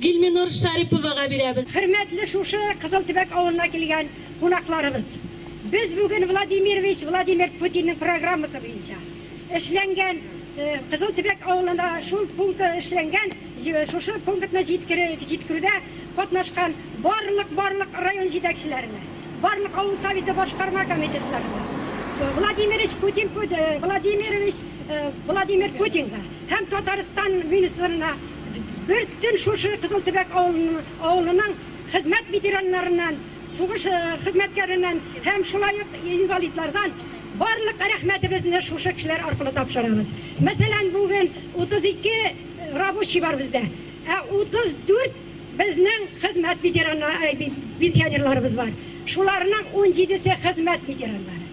Гилминур Шариповага бирәбез. Хөрмәтле шушы Кызыл Төбәк авылына килгән кунакларыбыз! Без бүген Владимирович Владимир Путинның программасы буенча эшләнгән Кызыл Төбәк авылына шул пункты эшләнгән шушы пунктны җиткерүдә катнашкан барлык барлык район җитәкчеләренә, барлык авыл Советы башкарма комитетларына, Владимирович Путин Владимирович Владимир Путинга, Һәм Татарстан министрына бертөн шушы Кызыл Төбәк авылының хезмәт ветераннарыннан, сугыш хезмәткәреннән һәм шулай ук инвалидлардан барлык рәхмәтебезне шушы кешеләр аркылы тапшырабыз. Мәсәлән, бүген 32 рабочий бар бездә, ә 34 безнең хезмәт ветераны, пенсионерларыбыз бар. Шуларның 17-се хезмәт ветераннары.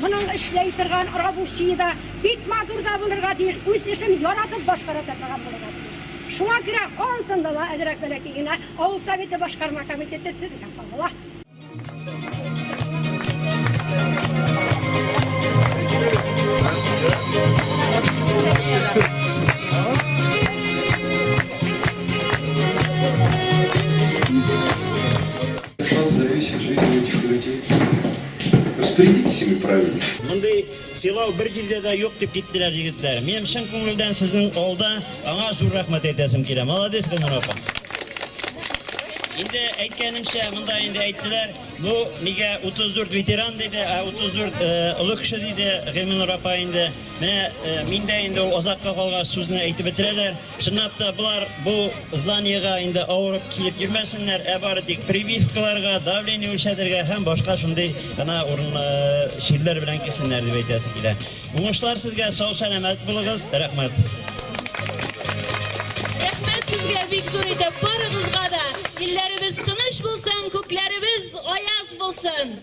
Моның эшләй торган рабочие да бик матур да булырга тиеш, үз эшен яратып башкара да торган булырга тиеш. Шуңа күрә ансында да әзрәк бәләкәй генә авыл советы башкарма комитеты сезгә кагыла. От вас зависит жизнь этих людей. Распорядитесь с ними правильно. Мондый сыйлау бер җирдә дә юк дип киттеләр егетләр. Минем чын күңелдән сезнең алда аңа зур рәхмәт әйтәсем килә. Молодец, Гөлнур апа. Инде әйткәнемчә, монда инде әйттеләр, бу мигә 34 ветеран диде, 34 олы кеше диде Гөлнур апа инде. Менә миндә инде ул озакка калгач сүзне әйтеп бетерәләр. Чынлап та болар бу зданиега инде авырып килеп йөрмәсеннәр, ә бары тик прививкаларга, давление үлчәтергә һәм башка шундый гына урын чирләр белән килсеннәр дип әйтәсе килә. Уңышлар сезгә, сау сәламәт булыгыз. Рәхмәт. Рәхмәт сезгә бик зур итеп барыгызга да. Илләребез тыныч булсын, күкләребез аяз булсын.